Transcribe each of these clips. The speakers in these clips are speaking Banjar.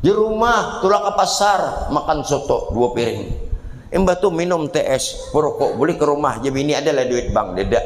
Di rumah, tulak ke pasar, makan soto dua piring. Imbah tu minum TS, perokok, beli ke rumah, je bini ada lah duit bang, deda.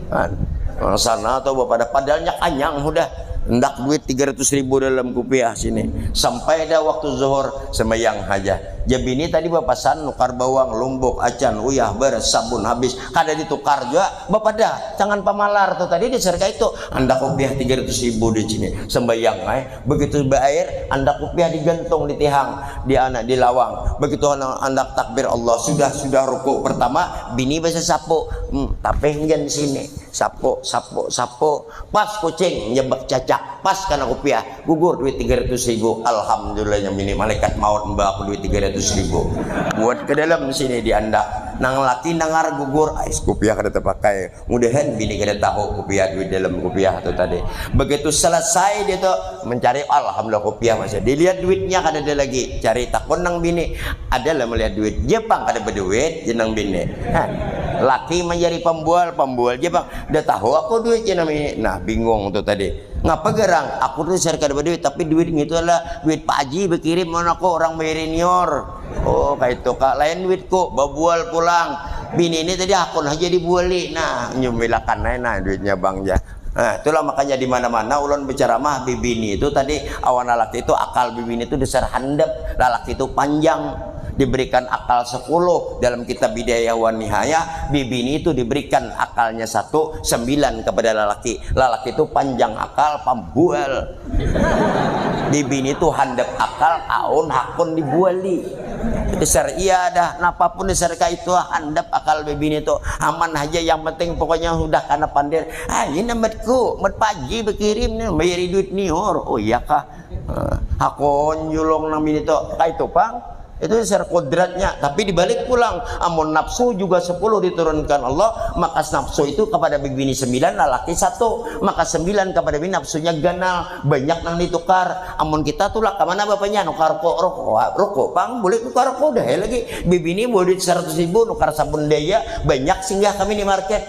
Kan? Nah, sana atau bapak ada, padahal nyak anyang sudah. Ndak duit 300 ribu dalam kupiah sini. Sampai dah waktu zuhur, sembayang haja. Je bini tadi bapasan, nukar bawang, lumbuk, acan, uyah, beras, sabun, habis. Kada di tukar jua, bapak ada. Tangan pamalar tu tadi, di serka itu. Ndak kupiah 300 ribu di sini. Sembayang ai. Begitu baair, andak kupiah digantung di tihang, diana di lawang. Begitu handak takbir Allah, sudah sudah ruku pertama, bini basasapu, mm, tapih njan sini, sapu, sapu, sapu, pas kucing njabak cacak, pas kana kupiah, gugur duit tiga ratus ribu, alhamdulillah nya bini, malaikat maut mba aku duit tiga ratus ribu, buat ke dalam sini di andak, nang laki nangar gugur, ais kupiah kada tapakai. Mudahan bini kada tahu kupiah duit dalam kupiah tu tadi. Begitu selesai dia tu mencari alhamdulillah kupiah masih. Dilihat duitnya kada ada lagi. Cari takun nang bini, ada lah melihat duit. Dia pang kada beduit jar nang bini. Hah. Laki manjari pambual, pambual ja pang. Dah tahu aku duit jar nang bini. Nah bingung tu tadi. Ngapa garang aku tu dasar kada beduit tapi duit ngitu adalah duit pak haji bekirim lawan aku orang bayar inior. Oh, kaitu ka lain duitku, babual pulang. Bini ini tadi akun haja dibuali. Nah, nyumilakan ai nah duitnya bang ja. Nah, itulah makanya di mana-mana ulun bacaramah bibini itu tadi awan lalaki itu akal bibini itu dasar handap, lalaki itu panjang, diberikan akal sepuluh dalam kitab Bidayah wan Nihayah, bibini itu diberikan akalnya satu, sembilan kepada lalaki. Lalaki itu panjang akal, pambual. Dibini tu handap akal aun hakun dibuali. Itu syariah dah napa pun dasar kaitu handap akal bibini tu aman haja yang penting pokoknya hudah kana pandir ayu nah matku mat pagi bakirim nah bayari duit nihur oh iyakah hakun julung nang bini tu kaitu pang. Itu dasar kodratnya. Tapi dibalik pulang, amun nafsu juga sepuluh diturunkan Allah, maka nafsu itu kepada bibini sembilan, lalaki satu. Maka sembilan kepada bini nafsunya ganal, banyak nang ditukar. Amun kita tulak kemana bapanya? Nukar ko, roko, roko pang, boleh nukar ko, dah lagi. Bibini boleh duit seratus ribu, nukar sabun daya, banyak singgah kami di market.